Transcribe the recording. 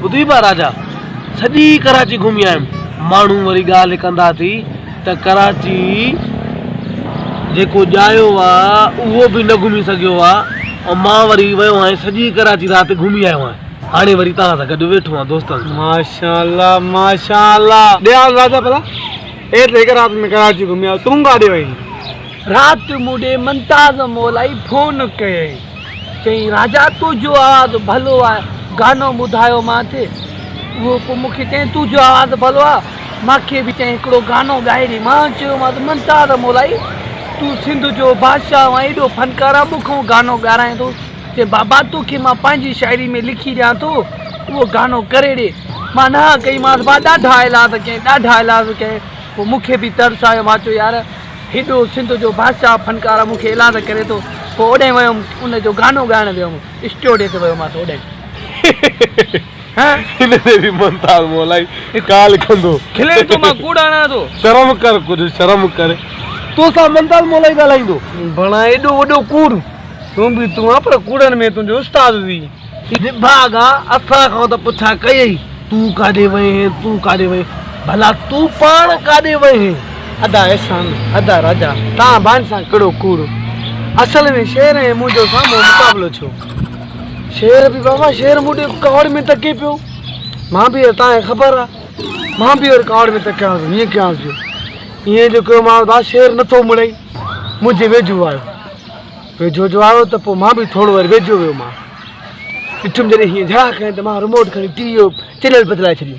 ٻڌي با راجا، سڄي ڪراچي گهمي آيم. ماڻهو وري ڳالهه ڪندا ٿي ته ڪراچي جيڪو ڄايو آ اهو به نه گهمي سگهيو آ ۽ مان وري ويو آهيان سڄي ڪراچي رات گهمي آيو آهيان. هاڻي وري توهان سان گڏ ويٺو آهيان دوستن سان. ماشاءالله ماشاءالله ڏيال راجا ڀلا اي ته هڪ رات ۾ ڪراچي گهمي آيو تون ڪاڏي وئين؟ رات مون ڏي منتاز مولائي فون ڪيئي. چيائين، راجا تون جو آواز ڀلو آ، گانو ٻڌايو مان تي. اهو پوء مون کي چيائين، تون جو آواز ڀلو آ، مان کي به چيائين هڪڙو گانو ڳائي ڏي. مان چيومانس، ممتاز مولائي، تون سنڌ جو بادشاهه آهين، ايڏو فنڪار آهين، مون کان گانو ڳارائين ٿو. چيائين، بابا تو کي مان پنهنجي شاعري ۾ لکي ڏيان ٿو، اهو گانو ڪري ڏي. مان نهان ڪئي مانس، مان ڏاڍا ايلاز ڪيائين، ڏاڍا ايلاز ڪيائين. پوء مون کي به ترس آيو، مان چيو يار! هيڏو سنڌ جو بادشاهه فنڪاره مون کي ايلاز ڪري ٿو پوء اوڏانهن ويم ان جو گانو ڳائڻ ويم اسٽوڊي تي ويومانس اوڏانهن نڀاڳا اسان کان ته پڇا ڪيئي، تون ڪاڏي وئين هين، تون ڪاڏي وئين هين، ڀلا تون پاڻ ڪاڏي وئين هين؟ ادا احسان، ادا راجا، تان ڀائن سان ڪهڙو ڪوڙ؟ اصل ۾ شير ۽ منهنجو سامهون مقابلو ٿيو. شير به بابا شير مون ڏي ڪاوڙ ۾ تڪي پيو. مان به تان کي خبر آ، مان به ڪاوڙ ۾ تڪيانس ۽ هيئن ڪيانس جو ايئن جو ڪيومانس ڀا شير نٿو مڙئي. منهنجي ويجهو آيو. ويجهو جو آيو ته پوء مان به ٿورو وري ويجهو ويومانس. ڏٺم جڏهن هيئن جهاء ڪيائين ته مان رموٽ کڻي ٽي ويء جو چينل بدلائي ڇڏيو.